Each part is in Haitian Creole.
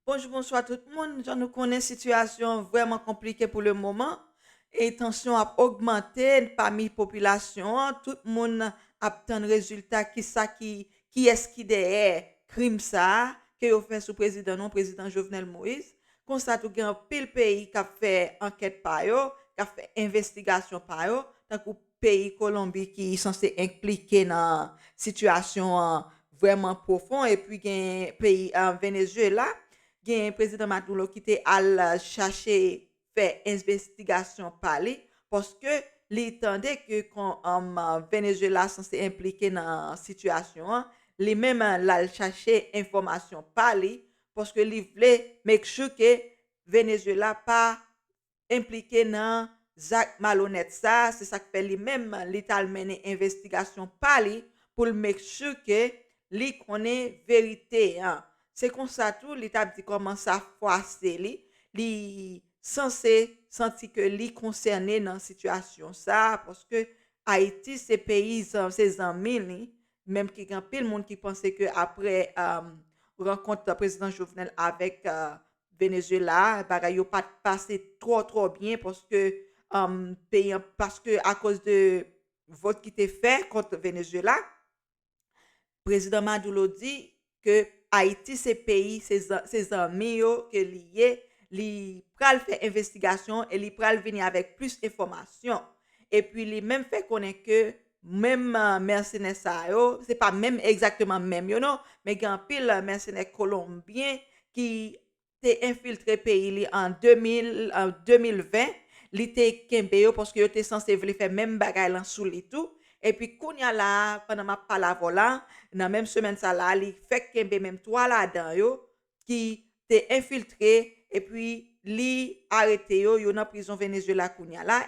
Bonjou bonswa tout moun, jan nou konnen sitiyasyon an vrèman konplike pou le moman e tansyon ap ogmante pami popilasyon an, tout moun ap tann rezilta kisa ki kiyès ki dèyè krim sa a ke yo fè sou prezidan nou an prezidan Jovenel Moïse, konsa tou gen anpil peyi kap fè ankèt pa yo, kap fè envestigasyon pa yo tankou. peyi Kolonbi ki sanse enplike nan sitiyasyon an vrèman pwofon epi gen peyi Venezuela gen prezidan Maduro ki te al chache fè envestigasyon pa li paske li tande ke Venezuela sanse enplike nan sitiyasyon an li menm lal chache enfòmasyon pa li paske li vle make sure ke Venezuela pa enplike nan zak malonèt sa a, se sak fè li menm li t al mennen envestigasyon pa li pou l make sure ke li konnen verite an. Se konsa tou li t ap di kòman sa fwase li, li sanse santi ke li konsène nan sitiyasyon sa a paske Ayiti se peyi se zanmi li, menm ki gen anpil moun ki panse ke aprè rankont prezidan Jovenel avèk Venezuela bagay yo pat pase twò twò byen paske peyi an paske akoz de vòt ki te fè kont Venezuela Prezidan Maduro di ke Ayiti se peyi se zanmi yo ke li ye li pral fè envestigasyon e li pral vini avèk plis enfòmasyon epi li menm fè konnen ke Menm mèsenè sa yo, se pa menm egzakteman menm yo non, men gen anpil mèsenè kolonbyen ki te enfiltre peyi li an 2020, li te kenbe yo paske yo te sanse vle fè menm bagay lan sou li tou, epi kounya la a pandan map pale avèw la, nan menm semèn sa la a li fèk kenbe menm 3 ladan yo ki te enfiltre epi li arete yo, yo nan prizon Venezuela kounya la,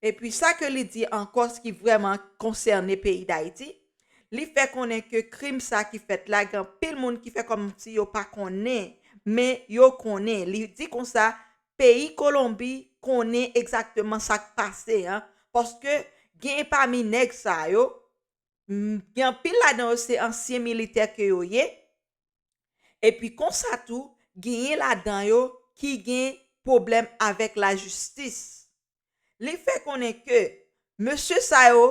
epi sa ke li di ankò ki vrèman konsène peyi Dayiti, li fè konnen ke krim sa ki fèt la gen anpil moun ki fè kòm si yo pa konnen, men yo konnen, li di konsa peyi Kolonbi konnen egzakteman sa k pase an, paske gen pami nèg sa yo, gen anpil ladan yo se ansyen militè ke yo ye, Epi konsa tou genyen ladan yo ki gen pwoblèm avèk lajistis. Li fè konnen ke mesye sa yo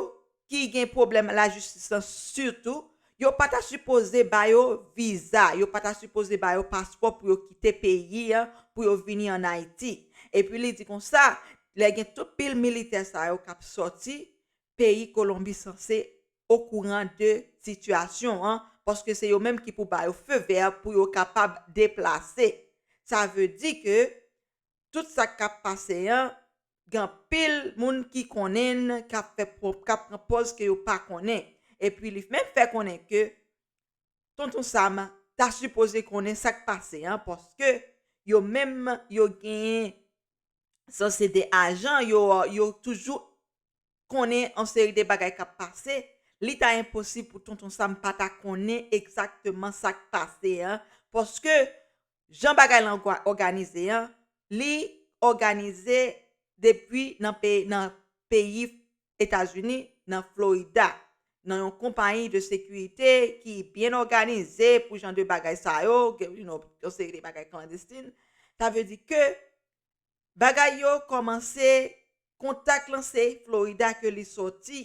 ki gen pwoblèm lajistis lan sitou, yo pa ta sipoze ba yo viza, yo pa ta sipoze ba yo paspò pou yo kite peyi an pou yo vini an Ayiti. Epi li di konsa, lè gen tout pil militè sa yo k ap sòti, peyi Kolonbi sanse okouran de sitiyasyon an paske se yo menm ki pou ba yo feu vert pou yo kapab deplase. Sa veu di ke tout sa k ap pase an gen anpil moun ki konnen n k ap fè k ap pran pòz ke yo pa konnen. Epi li menm fè konnen ke Tonton Sam ta sipoze konnen sa k pase an paske yo menm yo gen sanse 2 ajan yo yo toujou konnen yon seri de bagay k ap pase, li ta enposib pou Tonton Sam pa ta konnen egzakteman sa k pase an paske jan bagay lan òganize an, li òganize depi nan peyi Etazini, nan Florida, nan yon konpayi de sekirite ki byen òganize pou jan de bagay sa yo, yon seri de bagay klandestin. Sa vle di ke bagay yo kòmanse kontak lan se Florida ke li sòti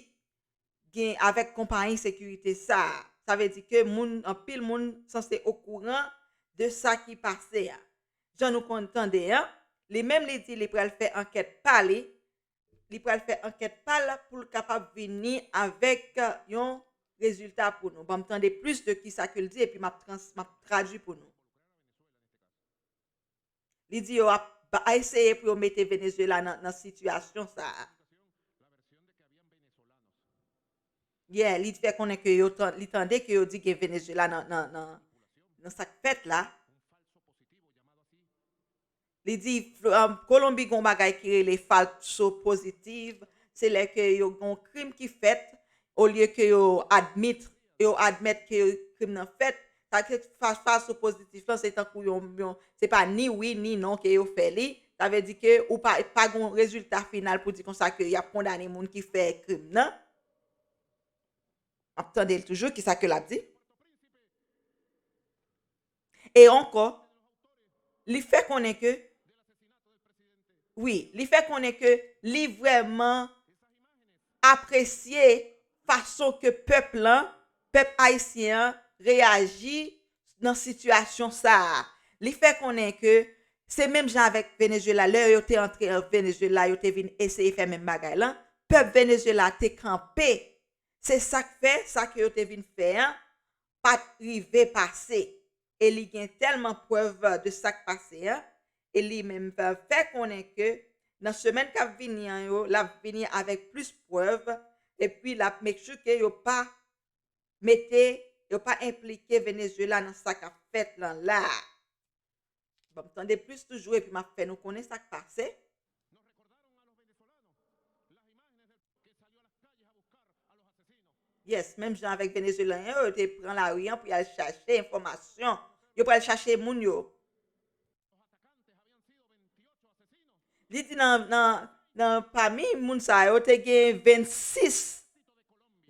gen avèk konpayi sekirite sa a. Sa vle di ke moun, anpil moun sanse okouran de sa ki pase a. Jan nou konn tande an, li menm li di li pral fè ankèt pa li, li pral fè ankèt pa l pou l kapab vini avèk yon rezilta pou nou. Ban m tande plis de kisa ke l di epi m ap trans, m ap tradui pou nou. Li di yo ap eseye pou yo mete Venezuela nan sitiyasyon sa a. Yeah, li fè konnen ke li tande ke yo di gen Venezuela nan sa k fèt la. Li di Kolonbi gen yon bagay ki rele falso positive, se lè ke yo gen yon krim ki fèt olye ke yo admit yo admèt ke krim nan fèt, sa vle di fas a sou pozitif lan se tankou yon, se pa ni wi ni non ke yo fè li, sa vle di ke ou pa, pa gen yon rezilta final pou di konsa ke yap kondane moun ki fè krim nan. Map tande l toujou, kisa ke lap di? E ankò, li fè konnen ke, wi, li fè konnen ke li vrèman apresye fason ke pèp lan, pèp ayisyen an reyaji nan sitiyasyon sa a. Li fè konnen ke se menm jan avèk Venezuela, lè yo te antre an Venezuela, yo te vin eseye fè menm bagay lan, pèp Venezuela te kanpe. Se sa k fè, sa ke yo te vin fè an, pat rive pase e li gen tèlman prèv de sak pase an e li menm fè konnen ke nan semèn kap vini an yo lap vini avèk plis prèv epi lap make sure ke yo pa mete yo pa enplike Venezuela nan sa kap fèt lan la a. Banm tande plis toujou epi map fè nou konnen sak pase. Yes, menm jan avèk Venezuelan yo, yo te pran lari an pou yal chache enfòmasyon. Yo pral chache moun yo. Li di nan pami moun sa yo te gen 26,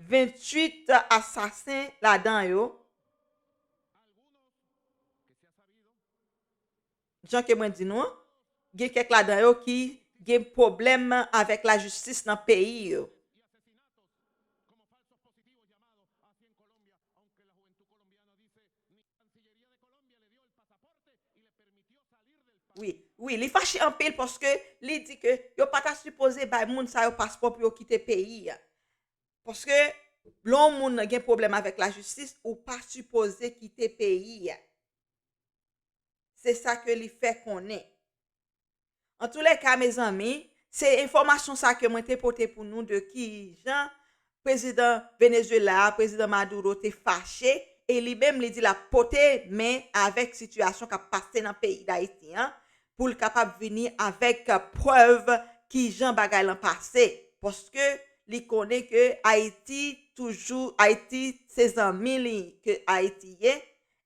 28 asasen ladan yo. Jan ke mwen di nou an, gen kèk ladan yo ki gen pwoblèm avèk lajistis nan peyi yo. Wi, li fache anpil paske li di ke yo pa ta sipoze bay moun sa yo paspò pou yo kite peyi a. Paske lè yon moun gen pwoblèm avèk lajistis, ou pa sipoze kite peyi a. Se sa ke li fè konnen. Antoulèka mezanmi, se enfòmasyon sa ke mwen te pote pou nou de ki jan prezidan Venezuela a, prezidan Maduro te fache e li menm li di l ap pote men avèk sitiyasyon k ap pase nan peyi Dayiti an, pou l kapab vini avèk prèv kijan bagay lan pase paske li konnen ke Ayiti toujou Ayiti se zanmi li ke Ayiti ye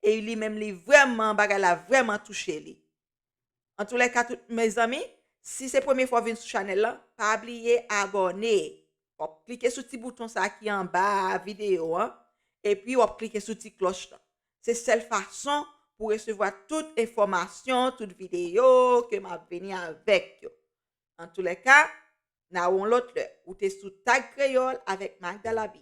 e li menm li vrèman bagay la vrèman touche li. Antoulèka tout mezanmi si se premye fwa w vin sou chanèl lan pa bliye abòne w ap klike sou ti bouton sa ki anba videyo an epi w ap klike sou ti klòch lan Se sèl fason pou resevwa tout enfòmasyon, tout videyo ke map vini avèk yo. Antoulèka, na won lòt lè. Ou te sou Tag Kreyòl avèk Magda Labi.